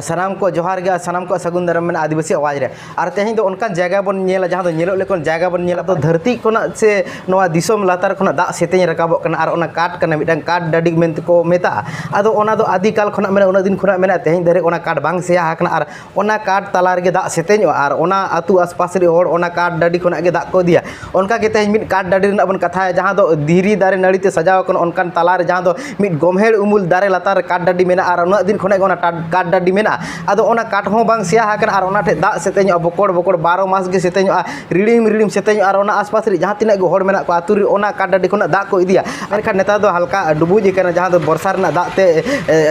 ᱥᱟᱱᱟᱢ ᱠᱚ ᱡᱚᱦᱟᱨ ᱜᱮ ᱥᱟᱱᱟᱢ ᱠᱚ ᱥᱟᱹᱜᱩᱱ ᱫᱟᱨᱟᱢ ᱢᱮᱱᱟᱜᱼᱟ ᱟᱹᱫᱤᱵᱟᱹᱥᱤ ᱟᱣᱟᱡᱽ ᱨᱮ ᱟᱨ ᱛᱮᱦᱮᱧ ᱫᱚ ᱚᱱᱠᱟᱱ ᱡᱟᱭᱜᱟ ᱵᱚᱱ ᱧᱮᱞᱟ ᱡᱟᱦᱟᱸ ᱫᱚ ᱧᱮᱞᱚᱜ ᱞᱮᱠᱟᱱ ᱡᱟᱭᱜᱟ ᱵᱚᱱ ᱧᱮᱞᱟ ᱛᱚ ᱫᱷᱟᱹᱨᱛᱤ ᱠᱷᱚᱱᱟᱜ ᱥᱮ ᱱᱚᱣᱟ ᱫᱤᱥᱚᱢ ᱞᱟᱛᱟᱨ ᱠᱷᱚᱱᱟᱜ ᱫᱟᱜ ᱥᱮᱛᱮᱧ ᱨᱟᱠᱟᱵᱚᱜ ᱠᱟᱱᱟ ᱟᱨ ᱚᱱᱟ ᱠᱟᱴ ᱠᱟᱱᱟ ᱢᱤᱫᱴᱟᱝ ᱠᱟᱴ ᱰᱟᱹᱰᱤ ᱢᱮᱱᱛᱮ ᱠᱚ ᱢᱮᱛᱟᱜᱼᱟ ᱟᱫᱚ ᱚᱱᱟ ᱫᱚ ᱟᱹᱫᱤ ᱠᱟᱞ ᱠᱷᱚᱱᱟᱜ ᱢᱮᱱᱟᱜᱼᱟ ᱩᱱᱟᱹᱜ ᱫᱤᱱ ᱠᱷᱚᱱᱟᱜ ᱢᱮᱱᱟᱜᱼᱟ ᱛᱮᱦᱮᱧ ᱫᱷᱟᱹᱨᱤᱡ ᱚᱱᱟ ᱠᱟᱴ ᱵᱟᱝ ᱥᱮᱭᱟ ᱟᱠᱟᱱᱟ ᱟᱨ ᱚᱱᱟ ᱠᱟᱴ ᱛᱟᱞᱟ ᱨᱮᱜᱮ ᱫᱟᱜ ᱥᱮᱛᱮᱧᱚᱜᱼᱟ ᱟᱨ ᱚᱱᱟ ᱟᱹᱛᱩ ᱟᱥᱯᱟᱥ ᱨᱮᱱ ᱦᱚᱲ ᱚᱱᱟ ᱠᱟᱴ ᱰᱟᱹᱰᱤ ᱠᱷᱚᱱᱟᱜ ᱜᱮ ᱫᱟᱜ ᱠᱚ ᱤᱫᱤᱭᱟ ᱚᱱᱠᱟ ᱜᱮ ᱛᱮᱦᱮᱧ ᱢᱤᱫ ᱠᱟᱴ ᱰᱟᱹᱰᱤ ᱨᱮᱱᱟᱜ ᱵᱚᱱ ᱠᱟᱛᱷᱟᱭᱟ ᱡᱟᱦᱟᱸ ᱫᱚ ᱫᱷᱤᱨᱤ ᱫᱟᱨᱮ ᱱᱟᱹᱲᱤ ᱛᱮ ᱥᱟᱡᱟᱣ ᱠᱟᱱᱟ ᱚᱱᱠᱟᱱ ᱛᱟᱞᱟ ᱨᱮ ᱡᱟᱦᱟᱸ ᱫᱚ ᱢᱤᱫ ᱜᱳᱢᱦᱮᱲ ᱩᱢᱩᱞ ᱫᱟᱨᱮ ᱞᱟᱛᱟᱨ ᱨᱮ ᱠᱟᱴ ᱰᱟᱹᱰᱤ ᱢᱮᱱᱟᱜᱼᱟ ᱟᱨ ᱩᱱᱟᱹᱜ ᱫᱤᱱ ᱠᱷᱚᱱᱟᱜ ᱜᱮ ᱚᱱᱟ ᱠᱟᱴ ᱰᱟᱹᱰᱤ ᱢᱮᱱᱟᱜᱼᱟ ᱟᱫᱚ ᱚᱱᱟ ᱠᱟᱴ ᱦᱚᱸ ᱵᱟᱝ ᱥᱮᱭᱟ ᱟᱠᱟᱱᱟ ᱟᱨ ᱚᱱᱟ ᱴᱷᱮᱡ ᱫᱟᱜ ᱥᱮᱛᱮᱧᱚᱜᱼᱟ ᱵᱚᱠᱚᱲ ᱵᱚᱠᱚᱲ ᱵᱟᱨᱚ ᱢᱟᱥ ᱜᱮ ᱥᱮᱛᱮᱧᱚᱜᱼᱟ ᱨᱤᱲᱤᱢ ᱨᱤᱲᱤᱢ ᱥᱮᱛᱮᱧᱚᱜᱼᱟ ᱟᱨ ᱚᱱᱟ ᱟᱥ ᱯᱟᱥ ᱨᱮ ᱡᱟᱦᱟᱸ ᱛᱤᱱᱟᱹᱜ ᱜᱮ ᱦᱚᱲ ᱢᱮᱱᱟᱜ ᱠᱚᱣᱟ ᱟᱛᱳ ᱨᱮ ᱚᱱᱟ ᱠᱟᱴ ᱰᱟᱹᱰᱤ ᱠᱷᱚᱱᱟᱜ ᱫᱟᱜ ᱠᱚ ᱤᱫᱤᱭᱟ ᱢᱮᱱᱠᱷᱟᱱ ᱱᱮᱛᱟᱨ ᱫᱚ ᱦᱟᱞᱠᱟ ᱰᱩᱵᱩᱡ ᱟᱠᱟᱱᱟ ᱡᱟᱦᱟᱸ ᱫᱚ ᱵᱚᱨᱥᱟ ᱨᱮᱱᱟᱜ ᱫᱟᱜ ᱛᱮ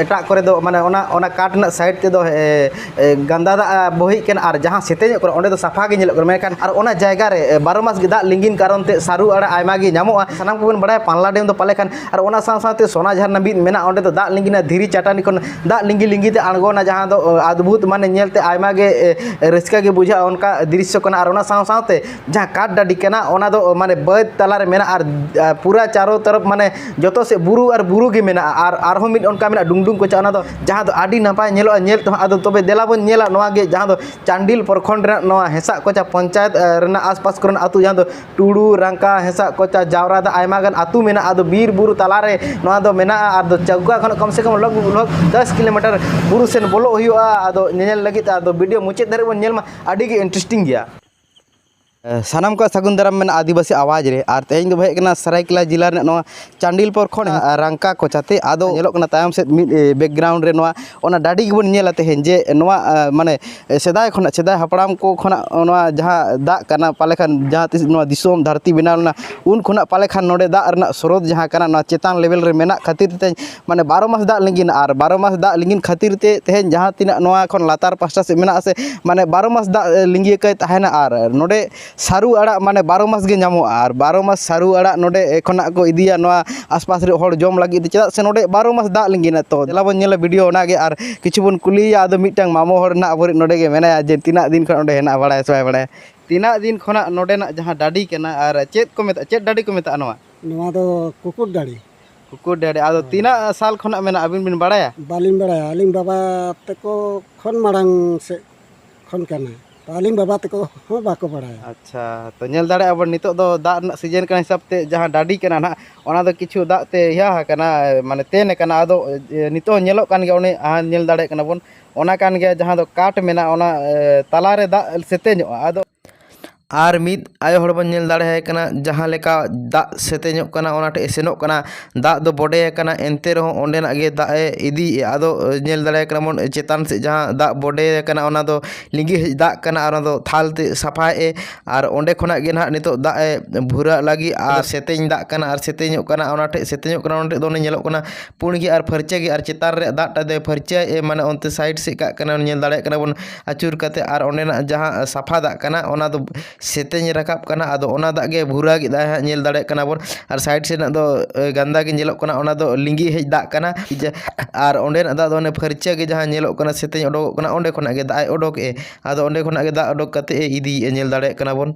ᱮᱴᱟᱜ ᱠᱚᱨᱮ ᱫᱚ ᱢᱟᱱᱮ ᱚᱱᱟ ᱚᱱᱟ ᱠᱟᱴ ᱨᱮᱱᱟᱜ ᱥᱟᱭᱤᱰ ᱛᱮᱫᱚ ᱜᱟᱱᱫᱟ ᱫᱟᱜ ᱵᱚᱦᱮᱜ ᱠᱟᱱᱟ ᱟᱨ ᱡᱟᱦᱟᱸ ᱥᱮᱛᱮᱧᱚᱜ ᱠᱟᱱᱟ ᱚᱸᱰᱮ ᱫᱚ ᱥᱟᱯᱷᱟ ᱜᱮ ᱧᱮᱞᱚᱜ ᱠᱟᱱᱟ ᱢᱮᱱᱠᱷᱟᱱ ᱟᱨ ᱚᱱᱟ ᱡᱟᱭᱜᱟ ᱨᱮ ᱵᱟᱨᱚ ᱢᱟᱥ ᱜᱮ ᱫᱟᱜ ᱞᱤᱸᱜᱤᱱ ᱠᱟᱨᱚᱱ ᱛᱮ ᱥᱟᱹᱨᱩ ᱟᱲᱟᱜ ᱟᱭᱢᱟ ᱜᱮ ᱧᱟᱢᱚᱜᱼᱟ ᱥᱟᱱᱟᱢ ᱠᱚᱵᱚᱱ ᱵᱟᱲᱟᱭᱟ ᱯᱟᱞᱱᱟ ᱰᱮᱢ ᱫᱚ ᱯᱟᱞᱮ ᱠᱷᱟᱱ ᱟᱨ ᱚᱱᱟ ᱥᱟᱶ ᱥᱟᱶᱛᱮ ᱥᱚᱱᱟ ᱡᱷᱟᱨᱱᱟ ᱢᱤᱫ ᱢᱮᱱᱟᱜᱼᱟ ᱚᱸᱰᱮ ᱫᱚ ᱫᱟᱜ ᱞᱤᱸᱜᱤᱱᱟ ᱫᱷᱤᱨᱤ ᱪᱟᱹᱴᱟᱹᱱᱤ ᱠᱷᱚᱱ ᱫᱟᱜ ᱞᱤᱸᱜᱤ ᱞᱤᱸᱜᱤ ᱛᱮ ᱟᱬᱜᱚᱱᱟ ᱡᱟᱦᱟᱸ ᱫᱚ ᱟᱫᱵᱷᱩᱛ ᱢᱟᱱᱮ ᱧᱮᱞᱛᱮ ᱟᱭᱢᱟ ᱜᱮ ᱨᱟᱹᱥᱠᱟᱹ ᱜᱮ ᱵᱩᱡᱷᱟᱹᱜᱼᱟ ᱚᱱᱠᱟ ᱫᱨᱤᱥᱥᱚ ᱠᱟᱱᱟ ᱟᱨ ᱚᱱᱟ ᱥᱟᱶ ᱥᱟᱶᱛᱮ ᱡᱟᱦᱟᱸ ᱠᱟᱴ ᱰᱟᱹᱰᱤ ᱠᱟᱱᱟ ᱚᱱᱟ ᱫᱚ ᱢᱟᱱᱮ ᱵᱟᱹᱫᱽ ᱛᱟᱞᱟ ᱨᱮ ᱢᱮᱱᱟᱜᱼᱟ ᱟᱨ ᱯᱩᱨᱟᱹ ᱪᱟᱨᱳ ᱛᱚᱨᱚᱯ ᱢᱟᱱᱮ ᱡᱚᱛᱚ ᱥᱮᱫ ᱵᱩᱨᱩ ᱟᱨ ᱵᱩᱨᱩ ᱜᱮ ᱢᱮᱱᱟᱜᱼᱟ ᱟᱨ ᱟᱨᱦᱚᱸ ᱢᱤᱫ ᱚᱱᱠᱟ ᱢᱮᱱᱟᱜᱼᱟ ᱰᱩᱝᱰᱩᱝ ᱠᱚᱪᱟ ᱚᱱᱟ ᱫᱚ ᱡᱟᱦᱟᱸ ᱫᱚ ᱟᱹᱰᱤ ᱱᱟᱯᱟᱭ ᱧᱮᱞᱚᱜᱼᱟ ᱧᱮᱞ ᱛᱮᱦᱚᱸ ᱟᱫᱚ ᱛᱚᱵᱮ ᱫᱮᱞᱟ ᱵᱚᱱ ᱧᱮᱞᱟ ᱱᱚᱣᱟ ᱜᱮ ᱡᱟᱦᱟᱸ ᱫᱚ ᱪᱟᱱᱰᱤᱞ ᱯᱨᱚᱠᱷᱚᱸᱰ ᱨᱮᱱᱟᱜ ᱱᱚᱣᱟ ᱦᱮᱸᱥᱟᱜ ᱠᱚᱪᱟ ᱯᱚᱧᱪᱟᱭᱮᱛ ᱨᱮᱱᱟᱜ ᱟᱥ ᱯᱟᱥ ᱠᱚᱨᱮᱱᱟᱜ ᱟᱛᱳ ᱡᱟᱦᱟᱸ ᱫᱚ ᱴᱩᱰᱩ ᱨᱟᱝᱠᱟ ᱦᱮᱸᱥᱟᱜ ᱠᱚᱪᱟ ᱡᱟᱣᱨᱟ ᱫᱚ ᱟᱭᱢᱟ ᱜᱟᱱ ᱟᱛᱳ ᱢᱮᱱᱟᱜᱼᱟ ᱟᱫᱚ ᱵᱤᱨ ᱵᱩᱨᱩ ᱛᱟᱞᱟ ᱨᱮ ᱱᱚᱣᱟ ᱫᱚ ᱢᱮᱱᱟᱜᱼᱟ ᱟᱫᱚ ᱪᱟᱹᱣᱠᱟ ᱠᱷᱚᱱ ᱠᱚᱢ ᱥᱮ ᱠᱚᱢ ᱞᱚᱜᱽ ᱵᱷᱚᱜᱽ ᱫᱚᱥ ᱠᱤᱞᱳᱢᱤᱴᱟᱨ ᱵᱩᱨᱩ ᱥᱮᱫ ᱵᱚᱞᱚᱜ ᱦᱩᱭᱩᱜᱼᱟ ᱟᱫᱚ ᱧᱮᱧᱮᱞ ᱞᱟᱹᱜᱤᱫ ᱛᱮ ᱟᱫᱚ ᱵᱷᱤᱰᱤᱭᱳ ᱢᱩᱪᱟᱹᱫ ᱫᱷᱟᱹᱨᱤᱡ ᱵᱚᱱ ᱧᱮᱞ ᱢᱟ ᱟᱹᱰᱤ ᱜᱮ ᱤᱱᱴᱟᱨᱮᱥᱴᱤᱝ ᱜᱮᱭᱟ ᱥᱟᱱᱟᱢ ᱠᱚ ᱥᱟᱹᱜᱩᱱ ᱫᱟᱨᱟᱢ ᱢᱮᱱᱟᱜᱼᱟ ᱟᱹᱫᱤᱵᱟᱹᱥᱤ ᱟᱣᱟᱡᱽ ᱨᱮ ᱟᱨ ᱛᱮᱦᱮᱧ ᱫᱚ ᱦᱮᱡ ᱠᱟᱱᱟ ᱥᱟᱨᱟᱭᱠᱮᱞᱟ ᱡᱮᱞᱟ ᱨᱮᱱᱟᱜ ᱱᱚᱣᱟ ᱪᱟᱱᱰᱤᱞ ᱯᱨᱚᱠᱷᱚᱸᱰ ᱨᱟᱝᱠᱟ ᱠᱚᱪᱟᱛᱮ ᱟᱫᱚ ᱧᱮᱞᱚᱜ ᱠᱟᱱᱟ ᱛᱟᱭᱚᱢ ᱥᱮᱫ ᱢᱤᱫ ᱵᱮᱠᱜᱨᱟᱣᱩᱱᱰ ᱨᱮ ᱱᱚᱣᱟ ᱚᱱᱟ ᱰᱟᱹᱰᱤ ᱜᱮᱵᱚᱱ ᱧᱮᱞᱟ ᱛᱮᱦᱮᱧ ᱡᱮ ᱱᱚᱣᱟ ᱢᱟᱱᱮ ᱥᱮᱫᱟᱭ ᱠᱷᱚᱱᱟᱜ ᱥᱮᱫᱟᱭ ᱦᱟᱯᱲᱟᱢ ᱠᱚ ᱠᱷᱚᱱᱟᱜ ᱱᱚᱣᱟ ᱡᱟᱦᱟᱸ ᱫᱟᱜ ᱠᱟᱱᱟ ᱯᱟᱞᱮ ᱠᱷᱟᱱ ᱡᱟᱦᱟᱸ ᱛᱤᱥ ᱱᱚᱣᱟ ᱫᱤᱥᱚᱢ ᱫᱷᱟᱹᱨᱛᱤ ᱵᱮᱱᱟᱣ ᱞᱮᱱᱟ ᱩᱱ ᱠᱷᱚᱱᱟᱜ ᱯᱟᱞᱮ ᱠᱷᱟᱱ ᱱᱚᱰᱮ ᱫᱟᱜ ᱨᱮᱱᱟᱜ ᱥᱨᱳᱛ ᱡᱟᱦᱟᱸ ᱠᱟᱱᱟ ᱱᱚᱣᱟ ᱪᱮᱛᱟᱱ ᱞᱮᱵᱮᱞ ᱨᱮ ᱢᱮᱱᱟᱜ ᱠᱷᱟᱹᱛᱤᱨ ᱛᱮ ᱢᱟᱱᱮ ᱵᱟᱨᱚ ᱢᱟᱥ ᱫᱟᱜ ᱞᱤᱸᱜᱤᱱᱟ ᱟᱨ ᱵᱟᱨᱚ ᱢᱟᱥ ᱫᱟᱜ ᱞᱤᱸᱜᱤᱱ ᱠᱷᱟᱹᱛᱤᱨ ᱛᱮ ᱛᱮᱦᱮᱧ ᱡᱟᱦᱟᱸ ᱛᱤᱱᱟᱹᱜ ᱱᱚᱣᱟ ᱠᱷᱚᱱ ᱞᱟᱛᱟᱨ ᱯᱟᱥᱴᱟ ᱥᱮᱫ ᱢᱮᱱᱟᱜ ᱟᱥᱮ ᱢᱟᱱᱮ ᱵᱟᱨᱚ ᱢᱟᱥ ᱫᱟᱜ ᱞᱤᱸᱜᱤ ᱟᱠᱟᱭ ᱛᱟᱦᱮᱱᱟ ᱟᱨ ᱱᱚᱰᱮ ᱥᱟᱹᱨᱩ ᱟᱲᱟᱜ ᱢᱟᱱᱮ ᱵᱟᱨᱚ ᱢᱟᱥ ᱜᱮ ᱧᱟᱢᱚᱜᱼᱟ ᱟᱨ ᱵᱟᱨᱚ ᱢᱟᱥ ᱥᱟᱹᱨᱩ ᱟᱲᱟᱜ ᱱᱚᱰᱮ ᱠᱷᱚᱱᱟᱜ ᱠᱚ ᱤᱫᱤᱭᱟ ᱱᱚᱣᱟ ᱟᱥᱯᱟᱥ ᱨᱮ ᱦᱚᱲ ᱡᱚᱢ ᱞᱟᱹᱜᱤᱫ ᱛᱮ ᱪᱮᱫᱟᱜ ᱥᱮ ᱱᱚᱰᱮ ᱵᱟᱨᱚ ᱢᱟᱥ ᱫᱟᱜ ᱞᱤᱸᱜᱤᱱᱟ ᱛᱚ ᱫᱮᱞᱟ ᱵᱚᱱ ᱧᱮᱞᱟ ᱵᱷᱤᱰᱭᱳ ᱚᱱᱟᱜᱮ ᱟᱨ ᱠᱤᱪᱷᱩ ᱵᱚᱱ ᱠᱩᱞᱤᱭᱮᱭᱟ ᱟᱫᱚ ᱢᱤᱫᱴᱟᱝ ᱢᱟᱢᱚ ᱦᱚᱲ ᱦᱟᱸᱜ ᱟᱵᱚᱨᱤᱡ ᱱᱚᱰᱮ ᱜᱮ ᱢᱮᱱᱟᱭᱟ ᱡᱮ ᱛᱤᱱᱟᱹᱜ ᱫᱤᱱ ᱠᱷᱚᱱ ᱱᱚᱰᱮ ᱦᱮᱱᱟᱜᱼᱟ ᱵᱟᱲᱟᱭᱟ ᱥᱮ ᱵᱟᱭ ᱵᱟᱲᱟᱭᱟ ᱛᱤᱱᱟᱹᱜ ᱫᱤᱱ ᱠᱷᱚᱱᱟᱜ ᱱᱚᱰᱮᱱᱟᱜ ᱡᱟᱦᱟᱸ ᱰᱟᱹᱰᱤ ᱠᱟᱱᱟ ᱟᱨ ᱪᱮᱫ ᱠᱚ ᱢᱮᱛᱟᱜᱼᱟ ᱪᱮᱫ ᱰᱟᱹᱰᱤ ᱠᱚ ᱢᱮᱛᱟᱜᱼᱟ ᱱᱚᱣᱟ ᱱᱚᱣᱟ ᱫᱚ ᱠᱩᱠᱩᱨ ᱰᱟᱹᱰᱤ ᱠᱩᱠᱩᱨ ᱰᱮᱦᱰᱮ ᱟᱫᱚ ᱛᱤᱱᱟᱹᱜ ᱥᱟᱞ ᱠᱷᱚᱱᱟᱜ ᱢᱮᱱᱟᱜᱼᱟ ᱟᱹᱵᱤᱱ ᱵᱤᱱ ᱵᱟᱲᱟᱭᱟ ᱵᱟᱹᱞᱤᱧ ᱵᱟᱲᱟᱭᱟ ᱟᱹᱞᱤᱧ ᱵᱟᱵᱟ ᱛᱮᱠᱚ ᱠᱷᱚᱱ ᱢᱟᱲᱟᱝ ᱥᱮᱫ ᱠᱷᱚᱱ ᱠᱟᱱᱟ ᱛᱚ ᱟᱹᱞᱤᱧ ᱵᱟᱵᱟ ᱛᱮᱠᱚ ᱦᱚᱸ ᱵᱟᱠᱚ ᱵᱟᱲᱟᱭᱟ ᱟᱪᱪᱷᱟ ᱛᱚ ᱧᱮᱞ ᱫᱟᱲᱮᱭᱟᱜᱼᱟ ᱵᱚᱱ ᱱᱤᱛᱚᱜ ᱫᱚ ᱫᱟᱜ ᱨᱮᱱᱟᱜ ᱥᱤᱡᱮᱱ ᱠᱟᱱᱟ ᱦᱤᱥᱟᱹᱵ ᱛᱮ ᱡᱟᱦᱟᱸ ᱰᱟᱹᱰᱤ ᱠᱟᱱᱟ ᱱᱟᱦᱟᱜ ᱚᱱᱟ ᱫᱚ ᱠᱤᱪᱷᱩ ᱫᱟᱜ ᱛᱮ ᱤᱭᱟᱹ ᱟᱠᱟᱱᱟ ᱢᱟᱱᱮ ᱛᱮᱱ ᱟᱠᱟᱱᱟ ᱟᱫᱚ ᱱᱤᱛᱚᱜ ᱦᱚᱸ ᱧᱮᱞᱚᱜ ᱠᱟᱱ ᱜᱮᱭᱟ ᱚᱱᱮ ᱧᱮᱞ ᱫᱟᱲᱮᱭᱟᱜ ᱠᱟᱱᱟ ᱵᱚᱱ ᱚᱱᱟ ᱠᱟᱱ ᱜᱮᱭᱟ ᱡᱟᱦᱟᱸ ᱫᱚ ᱠᱟᱴ ᱢᱮᱱᱟᱜᱼᱟ ᱚᱱᱟ ᱛᱟᱞᱟ ᱨᱮ ᱫᱟᱜ ᱥᱮᱛᱮᱧᱚᱜᱼᱟ ᱟᱫᱚ ᱟᱨ ᱢᱤᱫ ᱟᱭᱳ ᱦᱚᱲ ᱵᱚᱱ ᱧᱮᱞ ᱫᱟᱲᱮᱭᱟᱭ ᱠᱟᱱᱟ ᱡᱟᱦᱟᱸ ᱞᱮᱠᱟ ᱫᱟᱜ ᱥᱮᱛᱮᱧᱚᱜ ᱠᱟᱱᱟ ᱚᱱᱟ ᱴᱷᱮᱡ ᱥᱮᱱᱚᱜ ᱠᱟᱱᱟ ᱫᱟᱜ ᱫᱚ ᱵᱚᱰᱮ ᱟᱠᱟᱱᱟ ᱮᱱᱛᱮ ᱨᱮᱦᱚᱸ ᱚᱸᱰᱮᱱᱟᱜ ᱜᱮ ᱫᱟᱜ ᱮ ᱤᱫᱤᱭᱮᱜᱼᱟ ᱟᱫᱚ ᱧᱮᱞ ᱫᱟᱲᱮᱭᱟᱭ ᱠᱟᱱᱟ ᱵᱚᱱ ᱪᱮᱛᱟᱱ ᱥᱮᱡ ᱡᱟᱦᱟᱸ ᱫᱟᱜ ᱵᱚᱰᱮ ᱟᱠᱟᱱᱟ ᱚᱱᱟ ᱫᱚ ᱞᱤᱸᱜᱤ ᱦᱮᱡ ᱫᱟᱜ ᱠᱟᱱᱟ ᱟᱨ ᱚᱱᱟ ᱫᱚ ᱛᱷᱟᱞ ᱛᱮ ᱥᱟᱯᱷᱟᱭᱮᱜ ᱮ ᱟᱨ ᱚᱸᱰᱮ ᱠᱷᱚᱱᱟᱜ ᱜᱮ ᱱᱟᱜ ᱱᱤᱛᱚᱜ ᱫᱟᱜ ᱮ ᱵᱷᱩᱨᱟᱜ ᱞᱟᱹᱜᱤᱫ ᱟᱨ ᱥᱮᱛᱮᱧ ᱫᱟᱜ ᱠᱟᱱᱟ ᱟᱨ ᱥᱮᱛᱮᱧᱚᱜ ᱠᱟᱱᱟ ᱚᱱᱟ ᱴᱷᱮᱡ ᱥᱮᱛᱮᱧᱚᱜ ᱠᱟᱱᱟ ᱚᱱᱟ ᱴᱷᱮᱡ ᱫᱚ ᱚᱱᱮ ᱧᱮᱞᱚᱜ ᱠᱟᱱᱟ ᱯᱩᱬ ᱜᱮ ᱟᱨ ᱯᱷᱟᱹᱨᱪᱟᱹ ᱜᱮ ᱟᱨ ᱪᱮᱛᱟᱱ ᱨᱮᱭᱟᱜ ᱫᱟᱜ ᱴᱟᱜ ᱫᱚᱭ ᱯᱷᱟᱹᱨᱪᱟᱹᱭᱮᱜ ᱮ ᱢᱟᱱᱮ ᱚᱱᱛᱮ ᱥᱟᱭᱤᱰ ᱥᱮᱡ ᱠᱟᱜ ᱠᱟᱱᱟᱭ ᱧᱮᱞ ᱫᱟᱲᱮᱭᱟᱜ ᱠᱟᱱᱟ ᱵᱚᱱ ᱟᱹᱪᱩᱨ ᱠᱟᱛᱮᱫ ᱟᱨ ᱚᱸᱰᱮᱱᱟᱜ ᱡᱟᱦᱟᱸ ᱥᱟᱯᱷᱟ ᱫᱟᱜ ᱠᱟᱱᱟ ᱚᱱᱟ ᱫᱚ ᱥᱮᱛᱮᱧ ᱨᱟᱠᱟᱵ ᱠᱟᱱᱟ ᱟᱫᱚ ᱚᱱᱟ ᱫᱟᱜ ᱜᱮ ᱵᱷᱩᱨᱟᱹ ᱠᱮᱫᱟᱭ ᱦᱟᱸᱜ ᱧᱮᱞ ᱫᱟᱲᱮᱭᱟᱜ ᱠᱟᱱᱟ ᱵᱚᱱ ᱟᱨ ᱥᱟᱭᱤᱰ ᱥᱮᱫ ᱨᱮᱱᱟᱜ ᱫᱚ ᱜᱟᱱᱫᱟ ᱜᱮ ᱧᱮᱞᱚᱜ ᱠᱟᱱᱟ ᱚᱱᱟ ᱫᱚ ᱞᱤᱸᱜᱤ ᱦᱮᱡ ᱫᱟᱜ ᱠᱟᱱᱟ ᱟᱨ ᱚᱸᱰᱮᱱᱟᱜ ᱫᱟᱜ ᱫᱚ ᱚᱱᱮ ᱯᱷᱟᱹᱨᱪᱟᱹ ᱜᱮ ᱡᱟᱦᱟᱸ ᱧᱮᱞᱚᱜ ᱠᱟᱱᱟ ᱥᱮᱛᱮᱧ ᱩᱰᱩᱠᱚᱜ ᱠᱟᱱᱟ ᱚᱸᱰᱮ ᱠᱷᱚᱱᱟᱜ ᱜᱮ ᱫᱟᱜ ᱮ ᱩᱰᱩᱠ ᱮᱫ ᱟᱫᱚ ᱚᱸᱰᱮ ᱠᱷᱚᱱᱟᱜ ᱜᱮ ᱫᱟᱜ ᱩᱰᱩᱠ ᱠᱟᱛᱮᱫ ᱮ ᱤᱫᱤᱭᱮᱫᱼᱟ ᱧᱮᱞ ᱫᱟᱲᱮᱭᱟᱜ ᱠᱟᱱᱟ ᱵᱚᱱ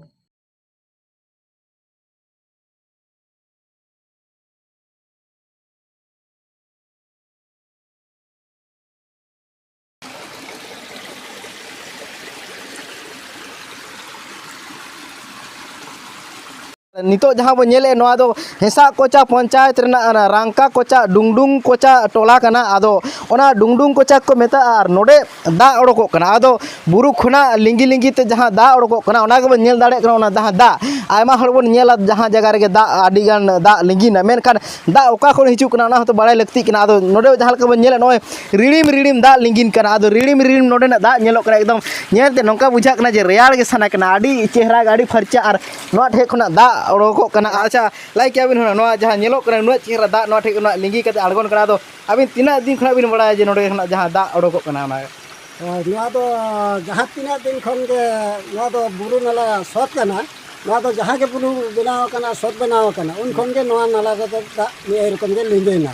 ᱱᱤᱛᱚᱜ ᱡᱟᱦᱟᱸ ᱵᱚᱱ ᱧᱮᱞᱮᱫ ᱱᱚᱣᱟ ᱫᱚ ᱦᱮᱸᱥᱟᱜ ᱠᱚᱪᱟ ᱯᱚᱧᱪᱟᱭᱮᱛ ᱨᱮᱱᱟᱜ ᱨᱟᱝᱠᱟ ᱠᱚᱪᱟ ᱰᱩᱝᱰᱩᱝ ᱠᱚᱪᱟ ᱴᱚᱞᱟ ᱠᱟᱱᱟ ᱟᱫᱚ ᱚᱱᱟ ᱰᱩᱝᱰᱩᱝ ᱠᱚᱪᱟ ᱠᱚ ᱢᱮᱛᱟᱜᱼᱟ ᱟᱨ ᱱᱚᱰᱮ ᱫᱟᱜ ᱚᱰᱚᱠᱚᱜ ᱠᱟᱱᱟ ᱟᱫᱚ ᱵᱩᱨᱩ ᱠᱷᱚᱱᱟᱜ ᱞᱤᱸᱜᱤ ᱞᱤᱸᱜᱤ ᱛᱮ ᱡᱟᱦᱟᱸ ᱫᱟᱜ ᱚᱰᱚᱠᱚᱜ ᱠᱟᱱᱟ ᱚᱱᱟ ᱜᱮᱵᱚᱱ ᱧᱮᱞ ᱫᱟᱲᱮᱭᱟᱜ ᱠᱟᱱᱟ ᱚᱱᱟ ᱡᱟᱦᱟᱸ ᱫᱟᱜ ᱟᱭᱢᱟ ᱦᱚᱲ ᱵᱚᱱ ᱧᱮᱞᱟ ᱡᱟᱦᱟᱸ ᱡᱟᱭᱜᱟ ᱨᱮᱜᱮ ᱫᱟᱜ ᱟᱹᱰᱤᱜᱟᱱ ᱫᱟᱜ ᱞᱤᱸᱜᱤᱱᱟ ᱢᱮᱱᱠᱷᱟᱱ ᱫᱟᱜ ᱚᱠᱟ ᱠᱷᱚᱱ ᱦᱤᱡᱩᱜ ᱠᱟᱱᱟ ᱚᱱᱟ ᱦᱚᱸᱛᱚ ᱵᱟᱲᱟᱭ ᱞᱟᱹᱠᱛᱤᱜ ᱠᱟᱱᱟ ᱟᱫᱚ ᱱᱚᱰᱮ ᱡᱟᱦᱟᱸ ᱞᱮᱠᱟ ᱵᱚᱱ ᱧᱮᱞᱮᱫ ᱱᱚᱜᱼᱚᱭ ᱨᱤᱲᱤᱢ ᱨᱤᱲᱤᱢ ᱫᱟᱜ ᱞᱤᱸᱜᱤᱱ ᱠᱟᱱᱟ ᱟᱫᱚ ᱨᱤᱲᱤᱢ ᱨᱤᱲᱤᱢ ᱱᱚᱰᱮᱱᱟᱜ ᱫᱟᱜ ᱧᱮᱞᱚᱜ ᱠᱟᱱᱟ ᱮᱠᱫᱚᱢ ᱧᱮᱞ ᱛᱮ ᱱᱚᱝᱠᱟ ᱵᱩᱡᱷᱟᱹᱜ ᱠᱟᱱᱟ ᱡᱮ ᱨᱮᱭᱟᱲ ᱜᱮ ᱥᱟᱱᱟ ᱠᱟᱱᱟ ᱟᱹᱰᱤ ᱪᱮᱦᱨᱟ ᱟᱹᱰᱤ ᱯᱷᱟᱨᱪᱟ ᱟᱨ ᱱᱚᱣᱟ ᱴᱷᱮᱡ ᱠᱷᱚᱱᱟᱜ ᱫᱟᱜ ᱚᱰᱚᱠᱚᱜ ᱠᱟᱱᱟ ᱟᱪᱪᱷᱟ ᱞᱟᱭᱤᱠ ᱠᱮᱜᱼᱟ ᱵᱤᱱ ᱱᱚᱣᱟ ᱡᱟᱦᱟᱸ ᱧᱮᱞᱚᱜ ᱠᱟᱱᱟ ᱩᱱᱟᱹᱜ ᱪᱮᱦᱨᱟ ᱫᱟᱜ ᱱᱚᱣᱟ ᱴᱷᱮᱡ ᱠᱷᱚᱱᱟᱜ ᱞᱤᱸᱜᱤ ᱠᱟᱛᱮ ᱟᱬᱜᱚᱱ ᱠᱟᱱᱟ ᱟᱫᱚ ᱟᱹᱵᱤᱱ ᱛᱤᱱᱟᱹᱜ ᱫᱤᱱ ᱠᱷᱚᱱᱟᱜ ᱵᱤᱱ ᱵᱟᱲᱟᱭᱟ ᱡᱮ ᱱᱚᱰᱮ ᱠᱷᱚᱱᱟᱜ ᱡᱟᱦᱟᱸ ᱫᱟᱜ ᱚᱰᱚᱠᱚᱜ ᱠᱟᱱᱟ ᱚᱱᱟ ᱱᱚᱣᱟ ᱫᱚ ᱡᱟᱦᱟᱸ ᱛᱤᱱᱟᱹᱜ ᱫᱤᱱ ᱠᱷᱚᱱ ᱜᱮ ᱱᱚᱣᱟ ᱫᱚ ᱵᱩᱨᱩ ᱱᱟᱞᱟ ᱥᱚᱛ ᱠᱟᱱᱟ ᱱᱚᱣᱟ ᱫᱚ ᱡᱟᱦᱟᱸ ᱜᱮ ᱵᱩᱨᱩ ᱵᱮᱱᱟᱣ ᱟᱠᱟᱱᱟ ᱥᱚᱛ ᱵᱮᱱᱟᱣ ᱟᱠᱟᱱᱟ ᱩᱱ ᱠᱷᱚᱱ ᱜᱮ ᱱᱚᱣᱟ ᱱᱟᱞᱟ ᱨᱮᱫᱚ ᱫᱟᱜ ᱱᱤᱭᱟᱹ ᱨᱚᱠᱚᱢ ᱜᱮ ᱞᱤᱸᱜᱤᱱᱟ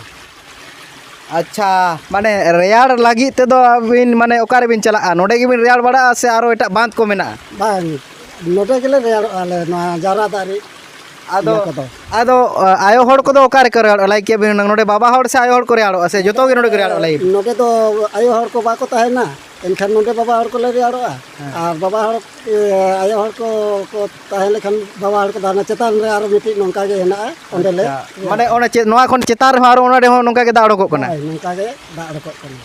ᱟᱪᱪᱷᱟ ᱢᱟᱱᱮ ᱨᱮᱭᱟᱲ ᱞᱟᱹᱜᱤᱫ ᱛᱮᱫᱚ ᱟᱹᱵᱤᱱ ᱢᱟᱱᱮ ᱚᱠᱟ ᱨᱮᱵᱤᱱ ᱪᱟᱞᱟᱜᱼᱟ ᱱᱚᱰᱮ ᱜᱮᱵᱤᱱ ᱨᱮᱭᱟᱲ ᱵᱟᱲᱟᱜᱼᱟ ᱥᱮ ᱟᱨᱚ ᱮᱴᱟᱜ ᱵᱟᱸᱫᱷ ᱠᱚ ᱢᱮᱱᱟᱜᱼᱟ ᱵᱟᱝ ᱱᱚᱰᱮ ᱜᱮᱞᱮ ᱨᱮᱭᱟᱲᱚᱜᱼᱟ ᱟᱞᱮ ᱱᱚᱣᱟ ᱡᱟᱣᱨᱟ ᱫᱟᱜ ᱨᱮ ᱟᱫᱚ ᱤᱭᱟᱹ ᱠᱚᱫᱚ ᱟᱫᱚ ᱟᱭᱳ ᱦᱚᱲ ᱠᱚᱫᱚ ᱚᱠᱟ ᱨᱮᱠᱚ ᱨᱮᱭᱟᱲᱚᱜᱼᱟ ᱞᱟᱭᱤᱠ ᱠᱮᱫ ᱵᱤᱱ ᱱᱚᱰᱮ ᱵᱟᱵᱟ ᱦᱚᱲ ᱥᱮ ᱟᱭᱳ ᱦᱚᱲ ᱠᱚ ᱨᱮᱭᱟᱲᱚᱜᱼᱟ ᱥᱮ ᱡᱚᱛᱚ ᱜᱮ ᱱᱚᱰᱮ ᱠᱚ ᱨᱮᱭᱟᱲᱚᱜᱼᱟ ᱞᱟᱭᱤᱠ ᱱᱚᱰᱮ ᱫᱚ ᱟᱭᱳ ᱦᱚᱲ ᱠᱚ ᱵᱟᱠᱚ ᱛᱟᱦᱮᱱᱟ ᱮᱱᱠᱷᱟᱱ ᱱᱚᱰᱮ ᱵᱟᱵᱟ ᱦᱚᱲ ᱠᱚᱞᱮ ᱨᱮᱭᱟᱲᱚᱜᱼᱟ ᱟᱨ ᱵᱟᱵᱟ ᱦᱚᱲ ᱟᱭᱳ ᱦᱚᱲ ᱠᱚ ᱠᱚ ᱛᱟᱦᱮᱸ ᱞᱮᱠᱷᱟᱱ ᱵᱟᱵᱟ ᱦᱚᱲ ᱠᱚ ᱫᱟᱬᱟ ᱪᱮᱛᱟᱱ ᱨᱮ ᱟᱨᱚ ᱢᱤᱫᱴᱤᱡ ᱱᱚᱝᱠᱟ ᱜᱮ ᱦᱮᱱᱟᱜᱼᱟ ᱚᱸᱰᱮ ᱞᱮ ᱢᱟᱱᱮ ᱚᱱᱟ ᱪᱮᱫ ᱱᱚᱣᱟ ᱠᱷᱚᱱ ᱪᱮᱛᱟᱱ ᱨᱮᱦᱚᱸ ᱟᱨᱚ ᱚᱱᱟ ᱨᱮᱦᱚᱸ ᱱᱚᱝᱠᱟ ᱜᱮ ᱫᱟᱜ ᱚᱰᱚᱠᱚᱜ ᱠᱟᱱᱟ ᱱᱚᱝᱠᱟ ᱜᱮ ᱫᱟᱜ ᱚᱰᱚᱠᱚᱜ ᱠᱟᱱᱟ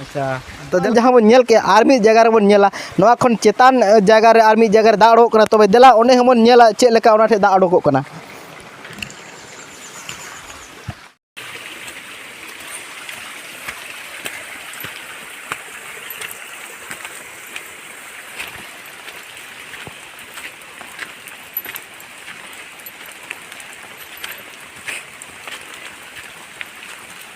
ᱟᱪᱪᱷᱟ ᱛᱚ ᱡᱟᱦᱟᱸ ᱵᱚᱱ ᱧᱮᱞ ᱠᱮᱜᱼᱟ ᱟᱨ ᱢᱤᱫ ᱡᱟᱭᱜᱟ ᱨᱮᱵᱚᱱ ᱧᱮᱞᱟ ᱱᱚᱣᱟ ᱠᱷᱚᱱ ᱪᱮᱛᱟᱱ ᱡᱟᱭᱜᱟ ᱨᱮ ᱟᱨ ᱢᱤᱫ ᱡᱟᱭᱜᱟ ᱨᱮ ᱫᱟᱜ ᱚᱰᱚᱠᱚᱜ ᱠᱟᱱᱟ ᱛᱚᱵᱮ ᱫᱮᱞᱟ ᱚᱸᱰᱮ ᱦᱚᱸᱵᱚᱱ ᱧᱮᱞᱟ ᱪᱮᱫ ᱞᱮᱠᱟ ᱚᱱᱟ ᱴᱷᱮᱱ ᱫᱟᱜ ᱚᱰᱚᱠᱚᱜ ᱠᱟᱱᱟ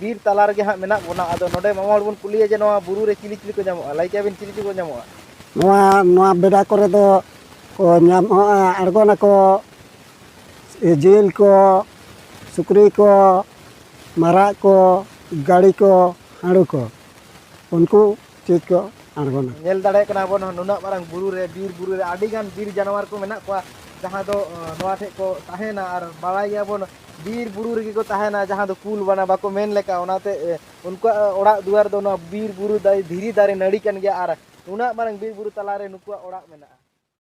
ᱵᱤᱨ ᱛᱟᱞᱟ ᱨᱮᱜᱮ ᱦᱟᱸᱜ ᱢᱮᱱᱟᱜ ᱵᱚᱱᱟ ᱟᱫᱚ ᱱᱚᱰᱮ ᱢᱟᱢᱟ ᱦᱚᱲ ᱵᱚᱱ ᱠᱩᱞᱤᱭᱟ ᱡᱮ ᱱᱚᱣᱟ ᱵᱩᱨᱩ ᱨᱮ ᱪᱤᱞᱤ ᱪᱤᱞᱤ ᱠᱚ ᱧᱟᱢᱚᱜᱼᱟ ᱞᱟᱹᱭ ᱠᱮᱭᱟᱵᱤᱱ ᱪᱤᱞᱤ ᱪᱤᱞᱤ ᱠᱚ ᱧᱟᱢᱚᱜᱼᱟ ᱱᱚᱣᱟ ᱱᱚᱣᱟ ᱵᱮᱰᱟ ᱠᱚᱨᱮ ᱫᱚ ᱠᱚ ᱧᱟᱢᱚᱜᱼᱟ ᱟᱬᱜᱚᱱᱟᱠᱚ ᱡᱤᱞ ᱠᱚ ᱥᱩᱠᱨᱤ ᱠᱚ ᱢᱟᱨᱟᱜ ᱠᱚ ᱜᱟᱹᱲᱤ ᱠᱚ ᱦᱟᱹᱬᱩ ᱠᱚ ᱩᱱᱠᱩ ᱪᱮᱫ ᱠᱚ ᱟᱬᱜᱚᱱᱟ ᱧᱮᱞ ᱫᱟᱲᱮᱭᱟᱜ ᱠᱟᱱᱟ ᱵᱚᱱ ᱱᱩᱱᱟᱹᱜ ᱢᱟᱨᱟᱝ ᱵᱩᱨᱩ ᱨᱮ ᱵᱤᱨ ᱵᱩᱨᱩ ᱨᱮ ᱟᱹᱰᱤ ᱜᱟᱱ ᱵᱤᱨ ᱡᱟᱱᱣᱟᱨ ᱠᱚ ᱢᱮᱱᱟᱜ ᱠᱚᱣᱟ ᱡᱟᱦᱟᱸ ᱫᱚ ᱱᱚᱣᱟ ᱴᱷᱮᱡ ᱠᱚ ᱛᱟᱦᱮᱱᱟ ᱟᱨ ᱵᱟᱲᱟᱭ ᱜᱮᱭᱟᱵᱚᱱ ᱵᱤᱨ ᱵᱩᱨᱩ ᱨᱮᱜᱮ ᱠᱚ ᱛᱟᱦᱮᱱᱟ ᱡᱟᱦᱟᱸ ᱫᱚ ᱠᱩᱞ ᱵᱟᱱᱟ ᱵᱟᱠᱚ ᱢᱮᱱ ᱞᱮᱠᱟ ᱚᱱᱟᱛᱮ ᱩᱱᱠᱩᱣᱟᱜ ᱚᱲᱟᱜ ᱫᱩᱣᱟᱨ ᱫᱚ ᱱᱚᱣᱟ ᱵᱤᱨ ᱵᱩᱨᱩ ᱫᱟᱨᱮ ᱫᱷᱤᱨᱤ ᱫᱟᱨᱮ ᱱᱟᱹᱲᱤ ᱠᱟᱱ ᱜᱮᱭᱟ ᱟᱨ ᱩᱱᱟᱹᱜ ᱢᱟᱨᱟᱝ ᱵᱤᱨ ᱵᱩᱨᱩ ᱛᱟᱞᱟᱨᱮ ᱱᱩᱠᱩᱣᱟᱜ ᱚᱲᱟᱜ ᱢᱮᱱᱟᱜᱼᱟ